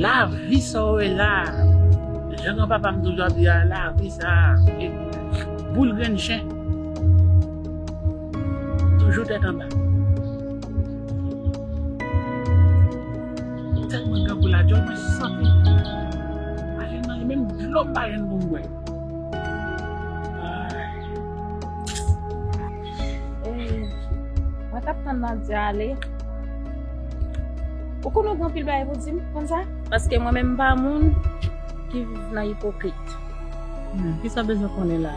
La vi sa ou wè la a. Jan gran papa m toujou ap di a la vi sa a e boul grenn chen. Toujou tèt anba. M tèlman grangou la djòl mwen santi m ale nan li menm dlo m pa jwenn pou m bwè. Mwen tap tan nan di ale. Ou konon gwen pil bay pou di m kon sa? Paske mwen menm pa moun ki viv nan ipokrit. Hmm, ki sa bezwen konen la?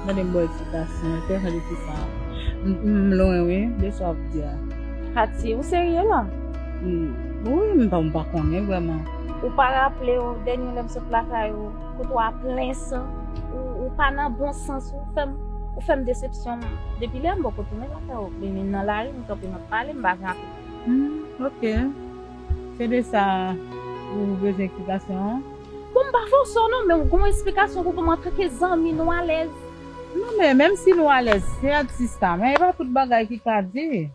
Mwen dem boy ti kasen, te fè de ti sa. M lwen wi, de sa ap di a. Hati, ou serye la? Hmm, wi, m pa konen vwèman. Ou pa raple ou, denye lèm sot lakay ou. Kote w a plen san, ou pa nan bon sans, ou fè m desepsyon. Depi lè m bò kote mwen lakay ou, mwen menm nan lari, m kanpe m ap pale, m pa gen apèt. Humm ok, se de sa ou bezwen eksplikasyon an? Bon m pa fòse w non, men ou gen yon eksplikasyon pou ban m antanke zanmi, nou alèz. Non men, menm si nou alèz, se ak sista, men e pa tout bagay ki ka di.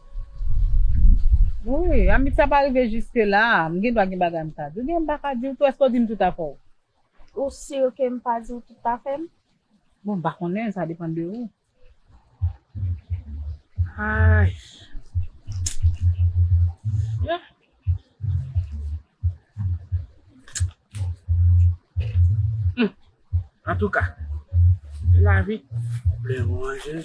Wi, amitié a pa rive jiske la, m gen dwa gen bagay m ka di w, gen m pa ka di w tou, èske w di m tout afè w? Ou sur ke m pa di w tout pa fè m? Bon m pa konnen sa depan de ou. Ayy. Yeah. Hum. Antouka. Lavi. Lè ou anje.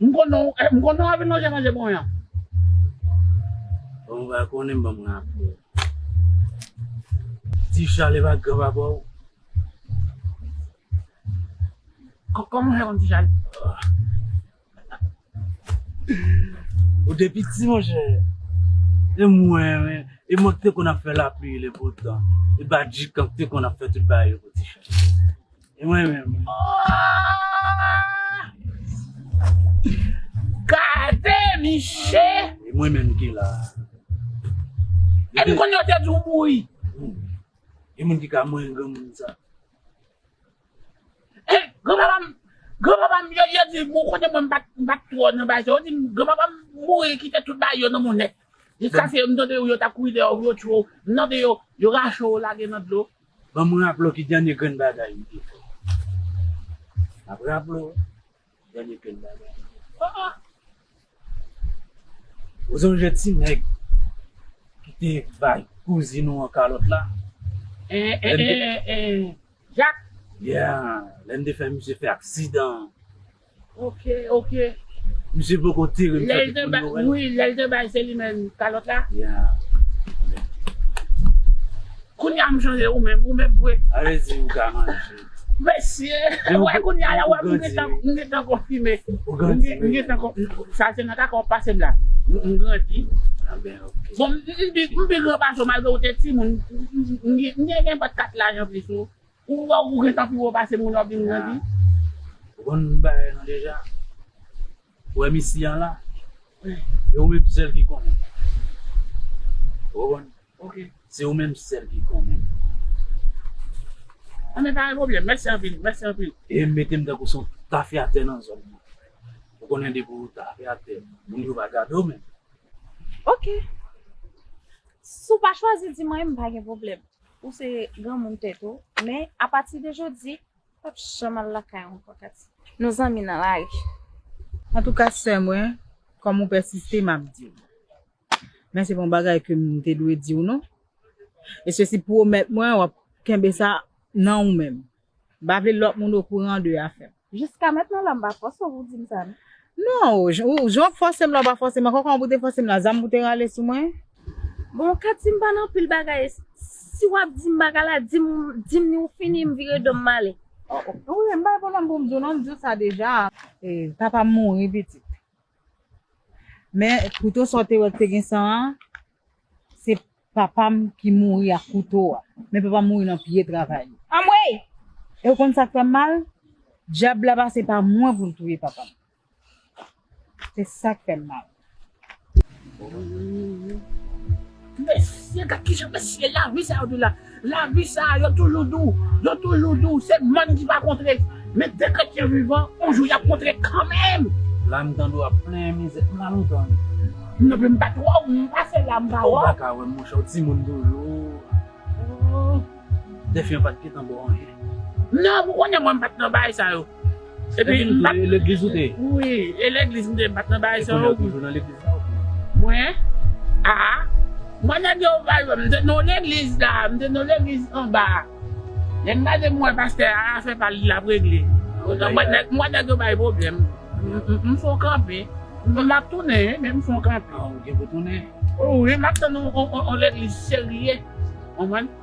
M konn non w, m konn non w avin lonje manje bon yan. Bon ou pa konnen m banm raple w. Ti chal epa gran papa w. Koman w fè konn ti chal? Ou te piti monchè. E mwen men, e mwen k te konn ap fè lapli le beau temps, e badjikan k te konn ap fè tout bagay yo pou ti chal. E mwen menm. Gade miche. E mwen menm ki la. E m konn yo te di w mouri. Gen moun ki ka mouri granmoun sa. E granpapa m, granpapa m yo di m ou konnen mwen m pa t twò nan bagay sa. Yo di m granpapa m mouri kite tout bagay yo nan monnèt. Yo kase yo, m tande yo tap kouri dèyè w, yo tchwe w, m tande yo, yo rache w lage nan dlo. Ban m raple w ki dènye grenn bagay m te fè. M ap raple w dènye grenn bagay m te fè. Aa! Ou sonje ti nèg ki te bay kouzin ou an kalòt la? Ee, ee, ee, Jak! Yeah! Lè m te fè misye fè aksidan an. Ok ok. Misye poko tirem chak jou pou noel. Lèl te bay wi lèl te bay seli menm kalòt la. Kounya m chanje ou menm ou menm vre. A vle di ou ka manje. Mesye wè kounya la wè m gentan m gentan konfime. Ou grandi menm. M gentan konfime sa se nan kaka ou pase m la. M grandi. A ben ok. Bon m pi gran pase w malgre ou te timoun. M gen enpat kat laj anplis ou. Ou wè ou gentan pi wo pase moun wap vin grandi. Ou konn bagay lan deja. Ou wè mesi an la. E ou menm sèl ki konnen. Ou konprann? Ok. Se ou menm sèl ki konnen. An men pa gen pwoblèm. Mèsi anpil. Mèsi anpil. E metem tankou son tafyatè nan zòn nan. Ou konnen depi ou tafyatè, moun yo va gade w menm. Ok. Si w pa chwazi di mwen, m pa gen pwoblèm. Ou se granmoun tèt ou, men apati de jodi, ou pap janm al lakay ou ankò Katie. Nou zanmi nan lari. Antouka sè mwen, kòm ou pèsiste, m ap di w. Men se pa yon bagay ke m te dwe di w non. E sesi pwomèt mwen w ap kenbe sa nan ou menm. M pa vle lòt moun okouran de afè m. Jiska mentnan la m pa fòse w pou w di m sa non. Non, ou, jan w fòse m la w pa fòse m ankò, kòman pou w te fòse m la, zam pou w te rale sou mwen? Bon, ou ka di m pa nan pil bagay, si w ap di m bagay la, di m, di m ni ou fini, m vire do m m ale. Ou wè, m pa gen pwoblèm pou m di w non, m di w sa deja. E, papa m mouri pitit. Men, pito sa w te wè k te gen san an, se. Papam ki mouri ak kouto a. Men papam mouri nan pye travay li. Anmweyy! E ou konn sak fèm mal? Dyab la pase pa mwen poul touye papam. Se sak fèm mal. Ooh. Mesye gad kijan mesye lari sa yo di la. Lavi sa a, yo toujou di w, yo toujou di w, se mòn ki pa kontre. Men de kretyen vivan, yon jou y ap kontre kanmenm. La m tande w ap plenyen mizè, m la lontan wi. M nan men m pa twò, m pase la m pa wè w. Ou pa ka wè m monchè, w timoun toujou. Dèfè an pa t gentan ba w anyen. Non, ou konnen mwen m pa t nan bagay sa yo. Epi m pat nan legliz ou te ye? Wi, e legliz m te ye m pat nan bagay sa yo. E kounye a ou toujou nan legliz la ou bien? Mwen? A! Mwen nèg yo pa jwenn m te nan legliz la, m te nan legliz anba a. Lè m gade m wè pastè a afè pa li l ap regle. M wè nèg yo bay pwoblèm. M fon kanpe. M ap tounen wi men m fon kanpe. A ou gen pou tounen? Wi m ap tann yon legliz serye. Ou konprann?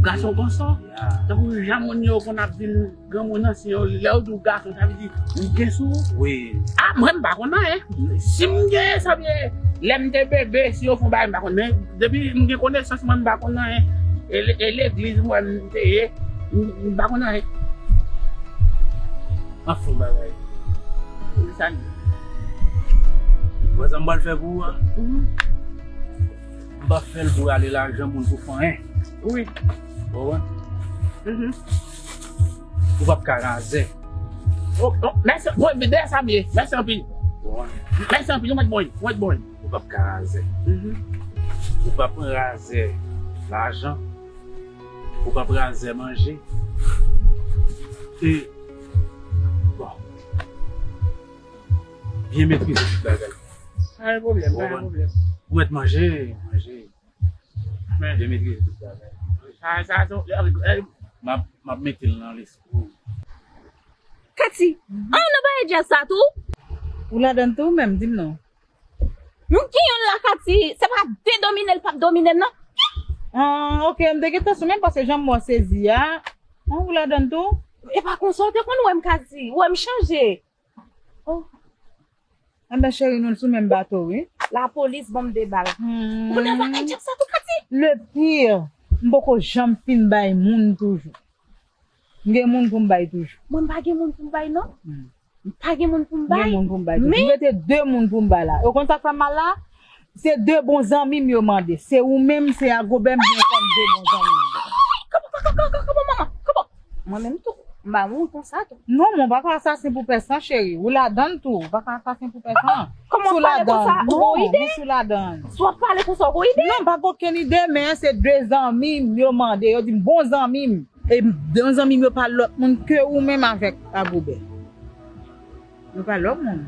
Gason konsa, tankou jan moun yo konn ap di granmoun an, si yo lè yo di w gason sa vle di ou gen sou ou. Wi. A mwen m pa konn anyen. Si m gen sa vle lè m te bebe si yo fon bagay m pa konn men depi m gen konesans mwen m pa konn anyen. E legliz m wè m te ye m pa konn anyen. An fon bagay. Sa n di. Ou wè sa m pral fè pou ou a? M pap fel pou rale lajan moun pou fanyen wi ou konprann ou pap ka razè. Mèsi anpil mwen mèt bòy mèsi anpil ou pap ka razè ou pap pran razè lajan ou pap razè manje e bon. Byen metrize tout bagay. Pa gen pwoblèm, pa gen pwoblèm. Ou mèt manje, manje. Men. Byen metrize tout bagay. Sa, sa se yon. M ap mete l nan lespri w. Kati, Ah ou nan bagay djaz sa tou? Ou ladan l tou ou menm? Di m non. M gen yon la Kati, se pa de domine l p ap domine m nan. Ah ok, m te gentan sou men paske jan m wè w sezi a. Ou ladan l tou? E pa konsa ou te konn wè m Kati. Ou wè m chanje. Anben cheri nou sou menm bato wi. La police banm 2 bal. Moun nan pa enjek sa tou kati. Le pire, m poko janm fin bay moun toujou. M gen moun pou m bay toujou. Mwen m pa gen moun pou m bay non. M pa gen moun pou m bay. M gen moun pou m bay toujou. M rete 2 moun pou m bay la. Ou konn sa k fè m mal la? Se 2 bon zanmi m yo mande. Se ou menm, se a Gobert m gen kòm 2 bon zanmi m yo. Koko koko koko koko manman koko. Mwen menm tou, m ba moun konsa tou. Non men w pa ka asasen pou pès lan cheri. Ou ladan l tou. Ou pa ka asasen pou pès lan. Kòman w pale konsa? Ou gon ide? Non, mwen sou ladan l. Si w ap pale konsa w gon ide? Non, m pa gen okenn ide men se 2 zanmi m yo mande. Yo di m bon zanmi m. E bon zanmi m yo pa lòt moun ke ou menm avèk a Gobert. Nou pa lòk moun.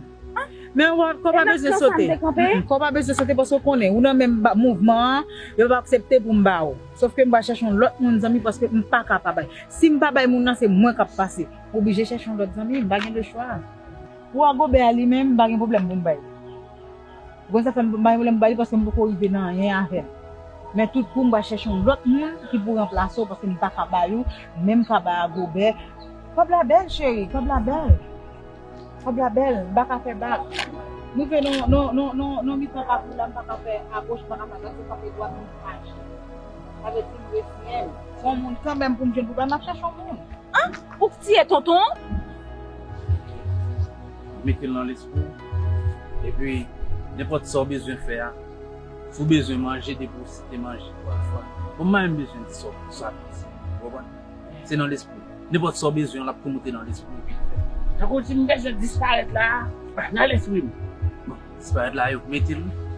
Men ou pa, kò w pa bezwen sote. Kò w pa bezwen sote paske ou konnen, ou nan menm mouvman an, yo pa aksepte pou m ba ou. Sof ke m pral chèche yon lòt moun zanmi paske m pa ka pa bay. Si m pa bay moun nan, se mwen k ap pase. M oblije chèche yon lòt zanmi, m pa gen lechwa. Pou Agobè a li menm, m pa gen pwoblèm pou m bay li. Bon sa fèm m bay vlem bay li paske m poko rive nan anyen avèl men tout kou m pral chèche yon lòt moun ki pou ranplase w paske m paka bay ou menm kaba a gobè kòb la bèl cheri kòb la bèl kòb la bèl m paka fè bak rive nan mitan pati la m paka fè agoch m paka fè adwat m frape dwat m di maji sa vle di m reziyen m fon moun kanmèm pou m jwenn pou bay map chèche yon moun ah ou k tiye tonton an. Mete l nan lespri w. Epi nenpòt sa ou bezwen fè a, si ou bezwen manje depi ou site manje twa fwa, bon m pa menm bezwen di sa ou bezwen fè, ou konprann? Se nan lespri w. Nenpòt sa ou bezwen an l ap tou moute nan lespri w epi ou fè l. Tankou w di m bezwen disparèt la a nan lespri m. Bon, disparèt la a yo k mete l wi.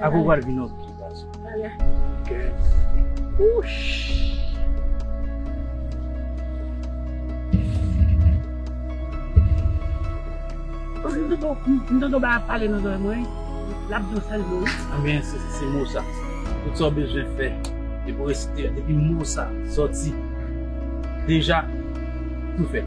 Akoy pral vin ok ti gason. M tande yon bagay ap pale nan zòrèy mwen wi, lap di yon sèl mo wi. Anben se mo sa. Tout sa w bezwen fè epi w resite depi mo sa sòti deja tou fèt.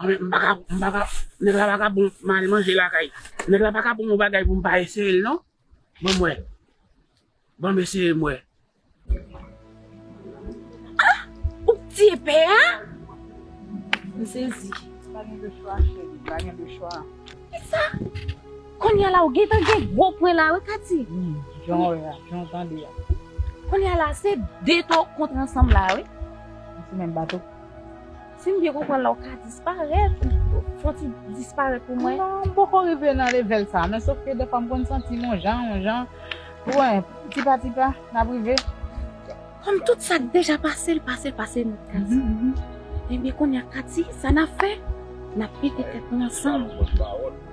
Mwen m paka, m paka, nèg la paka bon pou m ale manje lakay. Nèg la paka bon yon bagay pou m pa eseye l non. Ban m wè. Ban m eseye m wè. Ah! Ou k tiye pè a? M sezi. Pa gen de chwa cheri, pa gen de chwa. Kisa? Konnya la ou gentan gen gwo pwen la wi Katy. Wi jan w wè a, jan w tande a. Konnya la se 2 to w kontre ansanm la wi. Nou sou menm bato. Si m byen konprann la ou ka disparèt, fò w ti disparèt pou mwen. Non m poko rive nan levèl sa men sof ke dèfwa m konn santi m on jan, on jan, ou wè tipa tipa n ap rive. Kòm tout sa k deja pase l pase l pase nou Katie Ebyen kounye a Katie sa n ap fè N ap mete tèt nou ansanm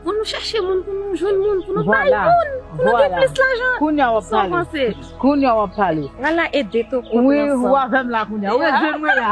pou nou chèche moun pou nou jwenn moun pou nou bay moun pou nou gen plis lajan Sa w panse Kounye a w ap pale Lala ede Toko pran san Ou avè m la kounye a Ou ret jwenn mwen la.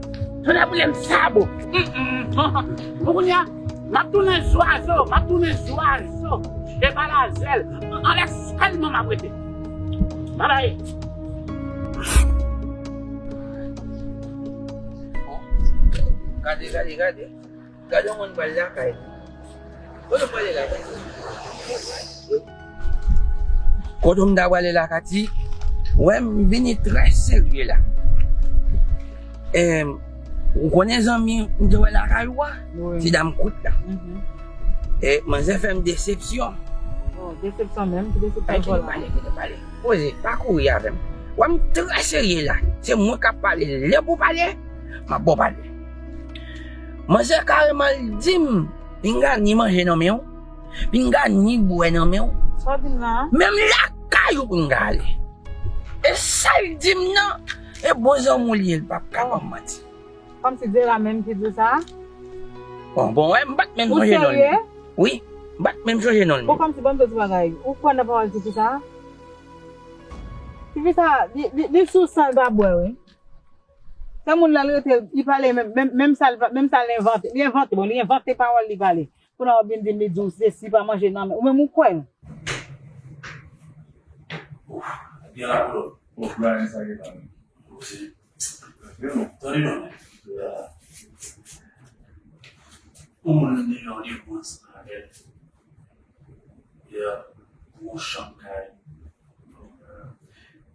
Tonnè boulem sa bon humm bon kounya map tounen zwazo map tounen zwazo e pa la zèl anlè sèlman map rete babay. Gade gade gade. Gade yon moun pral lakay li. Kote ou prale la Kati? Kote ou m ta prale la Kati? Wè m vini trè serye la. Em ou konnen zanmi m te wè lakay ou a? Ti dam kout la. E manzè fè m desepsyon. Desepsyon menm? Ki desepsyon pou la? Kite m pale, kite m pale. Poze, pa kouri avè m. Wè m trè serye la. Se mwen k ap pale. Lè pou pale, m ap ba w pale. Manzè kareman li dim pinga ni manje nan menw, pinga ni bwè nan menw, menm lakay ou pinga ale. E sal dim nan e bon zanmi w li ye li pap ka banm manti. Kòm si Dera menm ki diw sa? Bon bon wè mpat menm sonje nonl. Ou serye? Wi, mpat menm sonje nonl. Bon kòm si banm diw ti bagay, ou kwè nan pawòl tifi sa? Tifi sa li sou san li pa bwè wi. Sa moun la rete li pale menm sa menm sa li envante li envante bon li envante pawòl li pale kounye wap vin dim li diw sesi pa manje nan men ou menm ou kwèl. Gen la koulòt. Bon Brian sa gen la menm. Gen non. Tande non. Pou moun nan yon de woods avèl. Yeah. Gwo chanm kay.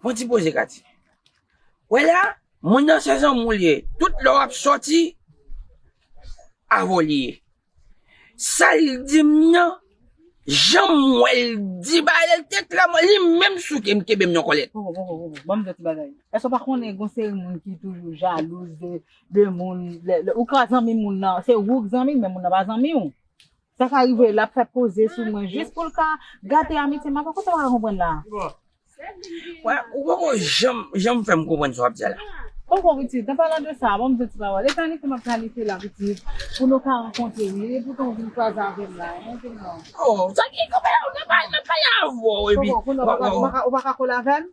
Bon ti poze Katie. Wè la, moun nan se zanmou l ye. Tout lè w ap sòti, avè w li ye. Sa l di m nan, jan m wè l di bagay la, l te klèman, li menm souke m, kenbe m nan kòlèt. Bon, bon, bon, bon, ban m di w ti bagay. Èske w pa konnen gon seri moun ki toujou jalouz de moun, lè ou ka zanmi moun nan, se ou k zanmi l men moun nan pa zanmi w? Sa ka rive lap fè poze sou mwen jis poul ka gate amitye mwen poko tèwa konprann la. Mwen ou poko janm janm fèm konprann sa wap di a la. Poko pitit an palan de sa banm di yon ti pawòl e planifye map planifye la pitit pou nou ka rankontre wi e poutan ou vin kwaze avèm la mwen di non. Oh sa ki konpè mwen pa mwen pa pale avèw epi. Poko kounye ou paka kole avèm.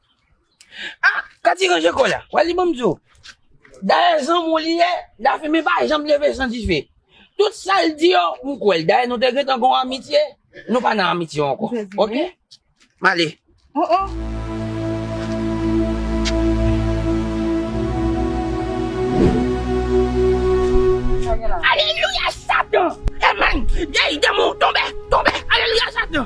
Ah Kati ranje kòl la, wè li banm diw, dayè zanmiw li ye, dafime pa janm leve san dife, tout sal di yo m kwèl, dayè nou te gentan gon amitye, nou pa nan amitye ankò ok, m ale. Oh oh. Alelouya satan. Amen. Dèy demon tonbe, tonbe. Alelouya satan.